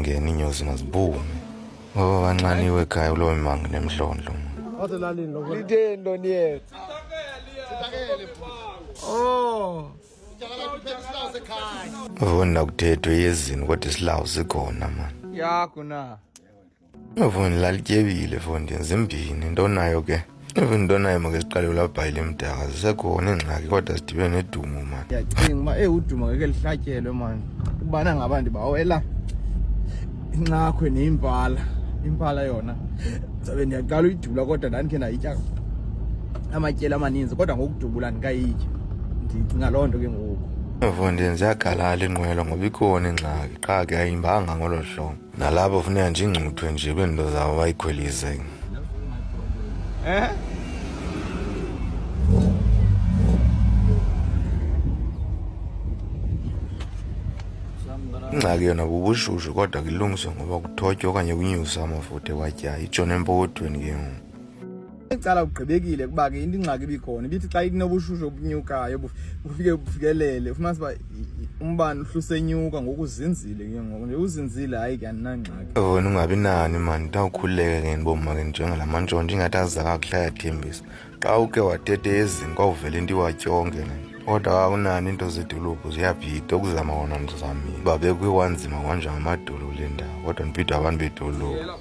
ngena iinyozi mazibume baba banxaniwe ekhaya kuloo mimanga nemdlondlo litheni lo niyetha oh voni nakuthethwe yezini kodwa isilawu sikhona mani yakho na voni lalityebile fondini zimbini into nayo ke even into naye makeziqale ulabhayile mdaka zisekhona iingxaki kodwa sidibe nedumo mani ndiyacinga uba eyi uduma ngeke lihlatyelwe mani ukubana ngaba ndibawela incakhwe neyimpala impala yona zabe ndiyaqala uyidubula kodwa ndandikhe ndayitya amatyeli amaninzi kodwa ngokudubula ndikayitya ndicinga loo nto ke ngoku mfondini ziyagalala iinqwelo ngoba ikhona ingxaki qha ke ayimbanga ngolo hlobo nalapho funeka nje ingcuthwe nje beento zawo bayikhwelise eh? ingxaki yona bubushushu kodwa kulungiswe ngoba kuthotywa okanye kunyuswe amafutha ewatyayo itshona empokothweni ke ngoku Icala ugqibekile kuba ke into ingxaki ibikhona ibithi xa inobushushu obunyukayo bufike bufikelele ufumanisa uba umbane uhlusenyuka ngokuzinzile ke ngoku nje uzinzile hayi ke andinangxaki wena ungabi nani mani ndawukhululeke ke ndiboma ke njengala mantshontsho ingathi aziza kakuhle ayathembisa xa uke watete ezini kwawuvela into iwatyonke ne kodwa kakunani into zedolophu ziyabhida ukuzama wona ndizamile uba bekwiwanzima kwanje ngamadolo kule ndawo kodwa ndibhida abantu bedolophu